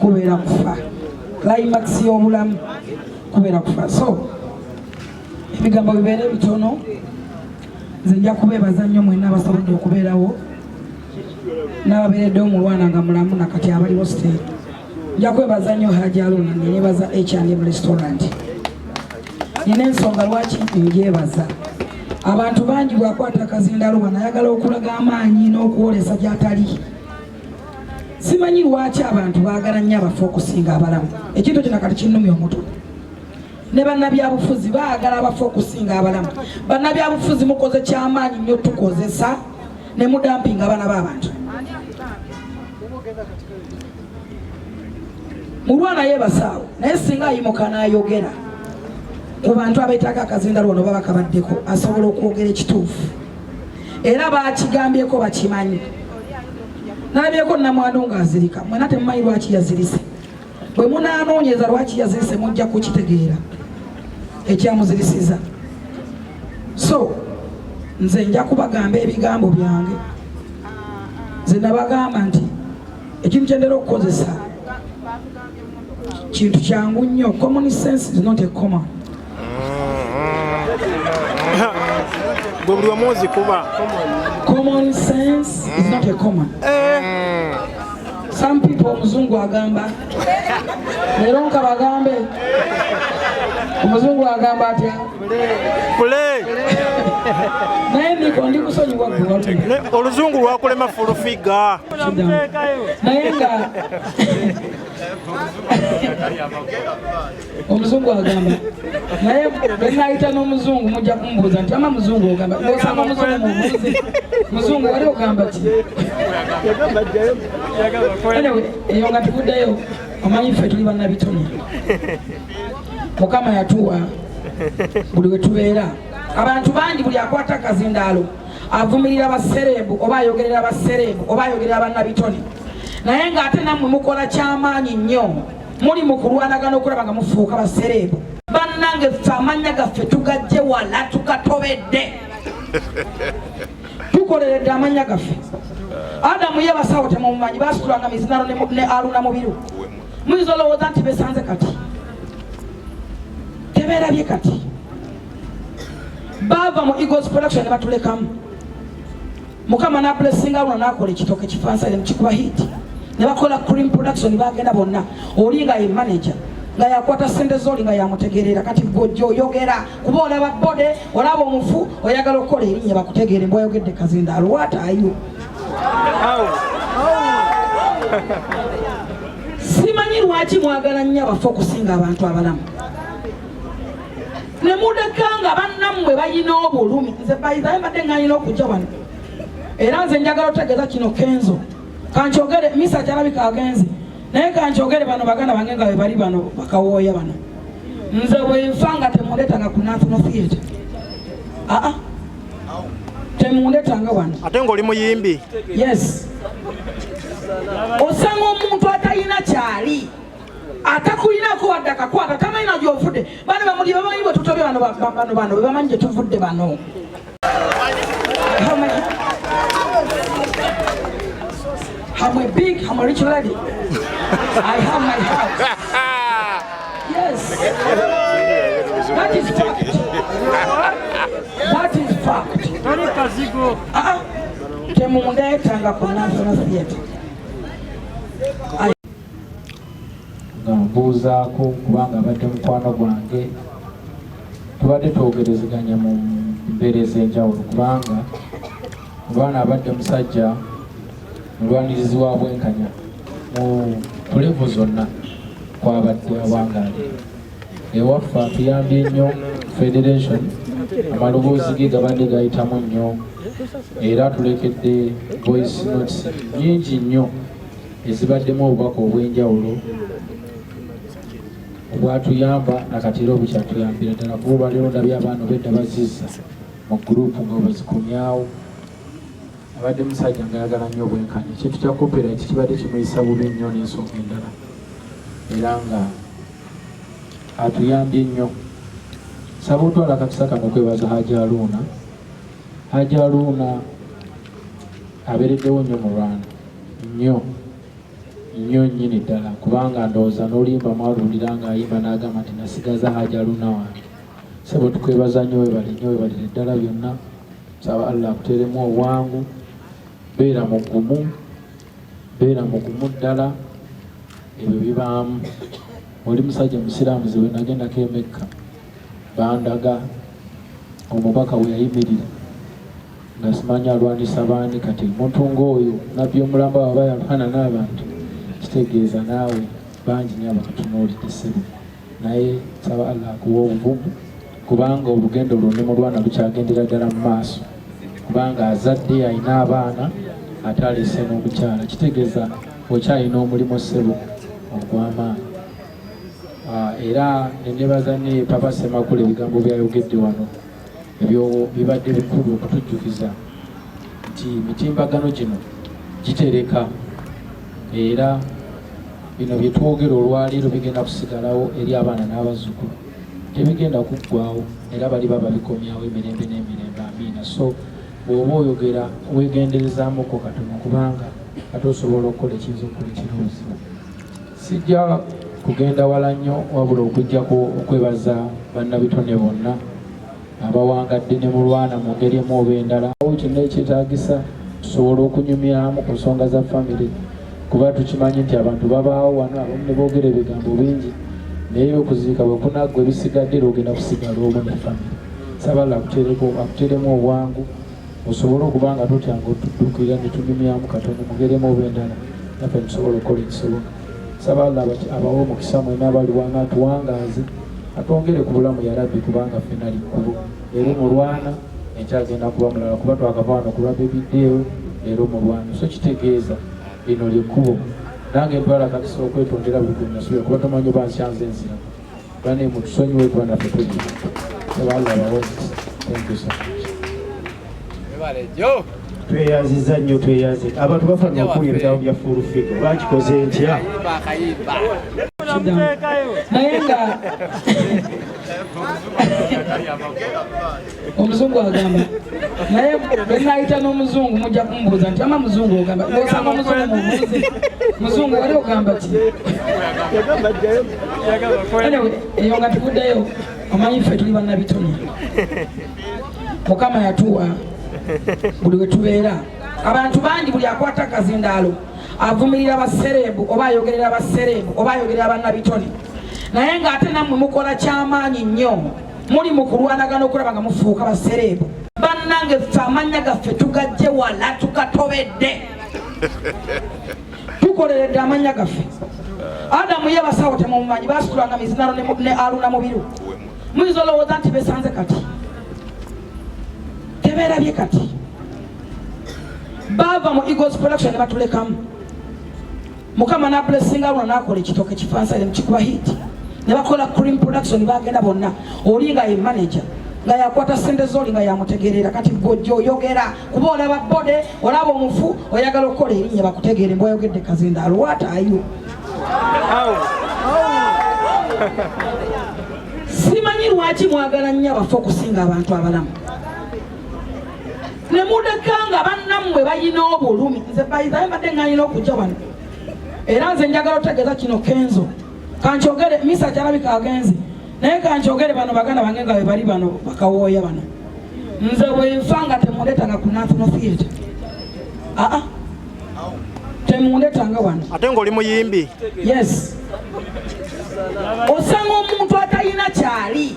kubeera kufa climax y'obulamu kubeera kufa so ebigambo bibeere bitono nze nja kubeebaza nnyo mwena abasobodde okubeerawo n'ababeereddewo mu lwana nga mulamu nakati abaliwo siteeri nja kwebaza nnyo haji aluna nenebaza hrm restaurant nina ensonga lwaki njebaza abantu bangi bwakwata akazindaluba nayagala okulaga amaanyi n'okwolesa gyatali simanyi lwaki abantu baagala nnyo abafu okusinga abalamu ekintu kino kati kinnumya omutwe ne bannabyabufuzi baagala abafu okusinga abalamu bannabyabufuzi mukoze kyamaanyi nnyo tukozesa ne mudampinga abaana b'abantu mulwana yebasaawo naye singa ayimuka nayogera ku bantu abetaaga akazinda lwono baba kabaddeko asobola okwogera ekituufu era bakigambyeko bakimanyi nalabyeko namwandu nga azirika mwena temumanyi lwaki yazirise bwe munanoonyeza lwaki yazirise mujja kukitegeera ekyamuzirisiza so nze nja kubagamba ebigambo byange nze nabagamba nti ekintu kyentera okukozesa kintu kyangu nnyo common sense is not a comma buli omu nzikuba common sense is not a comma eh. some people omuzungu agamba leero nkabagambe omuzungu agamba atya oluzungu lwakulema fulufiga naye nga omuzungu agamba naye benayita n'omuzungu mujja kumubuuza nti ama muzungu ogamba osanga omuzungu mubuuzi muzungu wali ogamba ti eyo nga tuguddeyo omanyi ffe tuli bannabitone mukama yatuwa buli wetubeera abantu bangi buli akwata akazindaalo avumirira basereebu oba ayogerera basereebu oba ayogerera bannabitone naye ng'ate nammwe mukola kyamaanyi nnyo muli mu kulwanagana okulaba nga mufuuka basereebu bannange ffe amannya gaffe tugajje wala tukatobedde tukoleredde amannya gaffe adamu ye basawo temumumanyi basitulanga mizinano ne aruna mubiru muyinza olowooza nti besanze kati teberabye kati baava mu eagles production ne batulekamu mukama nabulesinga luno nakola ekitoke kifansale mukikuba hit ne bakola cream production bagenda bonna oli nga ye manager nga yakwata sente zoli nga yamutegeerera kati gojja oyogera kuba olaba bode olaba omufu oyagala okukola erinnya bakutegeere mbwayogedde kazindaalo watayo simanyi lwaki mwagala nnyo abafa okusinga abantu abalamu ne mudeka nga bannammwe balina obulumi nze bayizaye mbadde nganyina okujja wano era nze njagala otegeeza kino kenzo kankyogere misa kyalabika agenze naye kankyogere bano baganda bange nga bebali bano bakawooya bano nze bwenfa nga temuleetanga ku national theatre aa ah, ah. temundetanga wano ate ng'oli muyimbi yes osanga omuntu atalina kyali atakulinako wadde akakwata tamanyi na gyovudde bana bamuli bamanyi bwe tutobe bano bano bano bebamanyi gye tuvudde bano I'm a big, I'm a rich lady. I have my house. Yes. That is fact. That is fact. Tony Kazigo. Ah, temundeetanga ku National Theatre. nga mbuuzaako kubanga abadde mukwano gwange tubadde twogerezeganya mu mbeera ez'enjawulo kubanga Lwana abadde musajja mulwanirizi wa bwenkanya mu tulevu zonna kwabadde awangaale ewaffe atuyambye nnyo federation amaloboozi ge gabadde gayitamu nnyo era tulekedde voice notes nyingi nnyo ezibaddemu obubaka obw'enjawulo obwatuyamba nakati era obukyatuyambira ddala kuba olwaleero ndabye abaana obedda bazizza mu gurupu nga bazikomyawo abadde musajja nga ayagala nnyo obwenkanya ekintu kya copyright kibadde kimuyisa bubi nnyo n'ensonga endala era nga atuyambye nnyo saba otwala akakisa kano okwebaza haji aluuna haji aluuna abeereddewo nnyo mu rwanda nnyo nnyo nnyini ddala kubanga ndowooza n'oluyimba mwalulira ng'ayimba n'agamba nti nasigaza haji aluuna wange Sebo tukwebaza nnyo webale nnyo webalire ddala byonna saba Allah akuteeremu obwangu beera mugumu beera mugumu ddala ebyo bibaamu oli musajja musiraamu ziwe nagendako emekka bandaga omubaka we yayimirira nga simanyi alwanisa baani kati omuntu ng'oyo nabbi omulamba waba yalwana n'abantu kitegeeza naawe bangi nyo abatutunuulidde ssebo naye nsaba Allah akuwa obuvumu kubanga olugendo luno ne mulwana lukyagendera ddala mu maaso kubanga azadde alina abaana ate alese n'omukyala kitegeeza okyalina omulimu ssebo ogw'amaanyi ah, era nenebaza ne papa semakula ebigambo byayogedde wano Ebyo bibadde bikulu okutujjukiza nti mitimbagano gino gitereka era bino bye twogera olwaleero bigenda kusigalawo eri abaana n'abazzukulu tebigenda kuggwawo era bali baba bikomyawo emirembe n'emirembe amiina so bw'oba oyogera weegenderezaamuko katono kubanga ate osobola okukola ekiyinza okukola ekiroozi Sijja kugenda wala nnyo wabula okujjako okwebaza bannabitone bonna abawangadde ne mulwana mu ngeri emu oba endala awo kyonna ekyetaagisa tusobola okunyumyamu ku nsonga za famire kuba tukimanyi nti abantu babaawo wano abamu ne boogera ebigambo bingi naye okuziika bwe kunaggwa ebisigadde era ogenda kusigala omu ne famire sabala akuteremu obwangu musobole okuba nga tutyanga otuddukira netunyumyamu katonda mugeremu oba endala naffe tusobole okukola ekisoboka saba alla abawe omukisa mwena abaliwana atuwangaaze atwongere ku bulamu yarabbi kubanga fena likkubo leero mulwana enkyagenda kuba mulala kuba twakavaano kulwa bebiddeewo leero mulwana so kitegeeza lino lyekkubo nange mpala kakisa okwetondera buli gwenasubira kuba tomanyi oba nsyanze nziramu Bane mutusonyiwe kuba naffe tuji tweyaziza nnyo tweyaze abantu bafana okuwulira ebigambo bya full figo bakikoze ntya naye nga omuzungu agamba naye bwenayita n'omuzungu mujja kumubuuza nti ama muzungu ogamba osanga omuzungu mubuuzi muzungu wali ogamba ki eyo nga tuguddeyo omanyi ffe tuli bannabitone mukama yatuwa buli wetubeera abantu bangi buli akwata akazindaalo avumirira basereebu oba ayogerera basereebu oba ayogerera bannabitone naye ng'ate nammwe mukola kyamaanyi nnyo muli mu kulwanagana okulaba nga mufuuka basereebu bannange ffe amannya gaffe tugajje wala tukatobedde tukoleredde amannya gaffe adamu ye basawo temumumanyi basitulanga mizinano ne aluna mubiru muyinza olowooza nti besanze kati teberabye kati baava mu eagles production ne batulekamu mukama nabulesinga luno nakola ekitoke kifansale mukikuba hit nebakola cream production bagenda bonna oli nga ye manager nga yakwata sente zoli nga yamutegerera kati gojja oyogera kuba olaba bode olaba omufu oyagala okukola erinnya bakutegeere mbwayogedde kazinda alwata ayo simanyi lwaki mwagala nnyo abafu okusinga abantu abalamu ne muleka nga bannammwe balina obulumi nze bayizayo mbadde ng'alina okujja wano era nze njagala otegeeza kino kenzo kankyogere misa kyalabika agenze naye kankyogere bano baganda bange nga bebali bano bakawooya bano nze bwenfa nga temuleetanga ku national theatre aa temuleetanga wano ate ngaoli muyimbi yes osanga omuntu atalina kyali